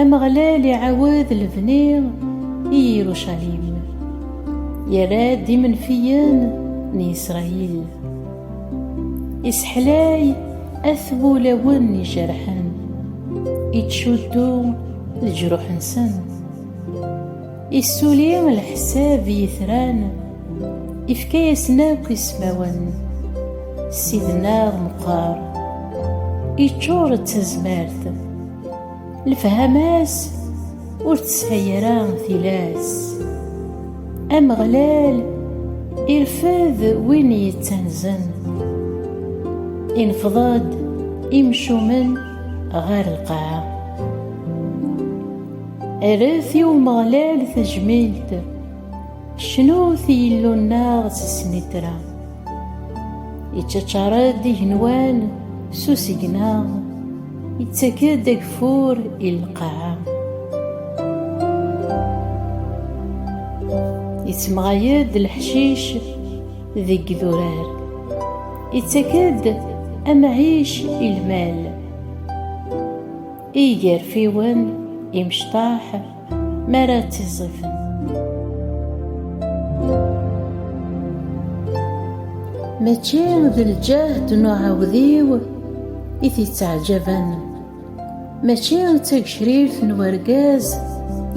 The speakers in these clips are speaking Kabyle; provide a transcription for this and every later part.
Ameɣlal iɛawed lebni i Yirucalim, yerra-d imenfiyen n Yisṛayil, iseḥlay at wulawen ijerḥen, ittcuddu leǧruḥ-nsen, issuli leḥsab i yitran, ifka-yasen akk ismawen, Ssid-nneɣ meqqer, iččur d tazmert. Lefhama-s ur tesɛi ara tilas. Ameɣlal irfed win yettanzen. Ineffeḍ-d imcumen ɣer lqaɛa. Erret i Umeɣlal tajmilt. Cnut i Yillu-nneɣ s snitra. Iččačar-d igenwan s usigna, ittak-d ageffur i lqaɛa. Ittmeɣay-d leḥcic deg idurar, ittak-d amɛic i lmal. I igerfiwen, imecṭaḥ, mi ara ttiẓẓifen. Mačči d lǧehd n uɛawdiw i t-ittaɛjaben, mačči d tagecrirt n urgaz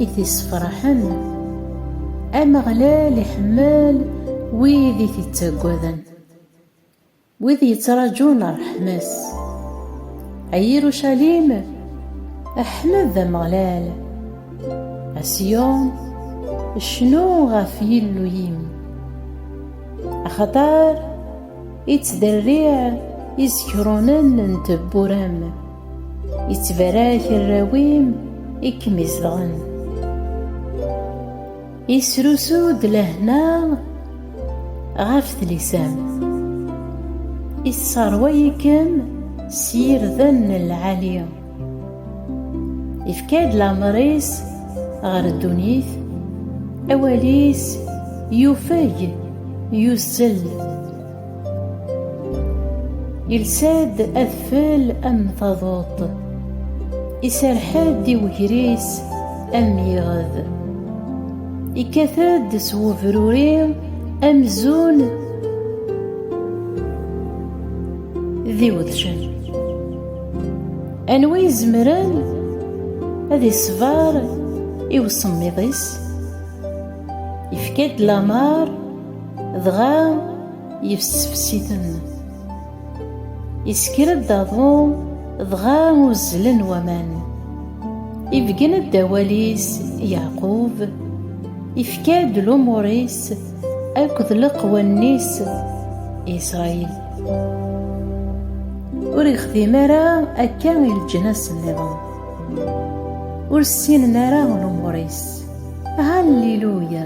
i t-issefraḥen. Ameɣlal iḥemmel wid i t-ittaggaden. Wid yettraǧun ṛṛeḥma-s. A Yirucalim, ḥmed Ameɣlal! A Ṣiyun, cnu ɣef Yillu-im! Axaṭer ittderriɛ izekrunen n tewwura-m, ittbarak arraw-im i kem-izedɣen. Isrusu-d lehna ɣef tlisa-m, isseṛway-ikem s yirden n lɛali, ifka-d lameṛ-is ɣer ddunit, awal-is yufeg, yuzzel. Yelsa-d adfel am taḍuṭ, iserreḥ-d i wegris am yiɣed. Ikkat-d s webruri amzun d iwedcen. Anwa izemren ad iṣber i usemmiḍ-is? Yefka-d lameṛ Dɣa yefsefs-iten. Isker-d aḍu, dɣa uzzlen waman. Ibeggen-d awal-is Yeɛqub, ifka-d lumuṛ-is akked leqwanen-is Isṛayil. Ur ixdim ara akka i leǧnas nniḍen. Ur ssinen ara lumuṛ-is. Haliluya!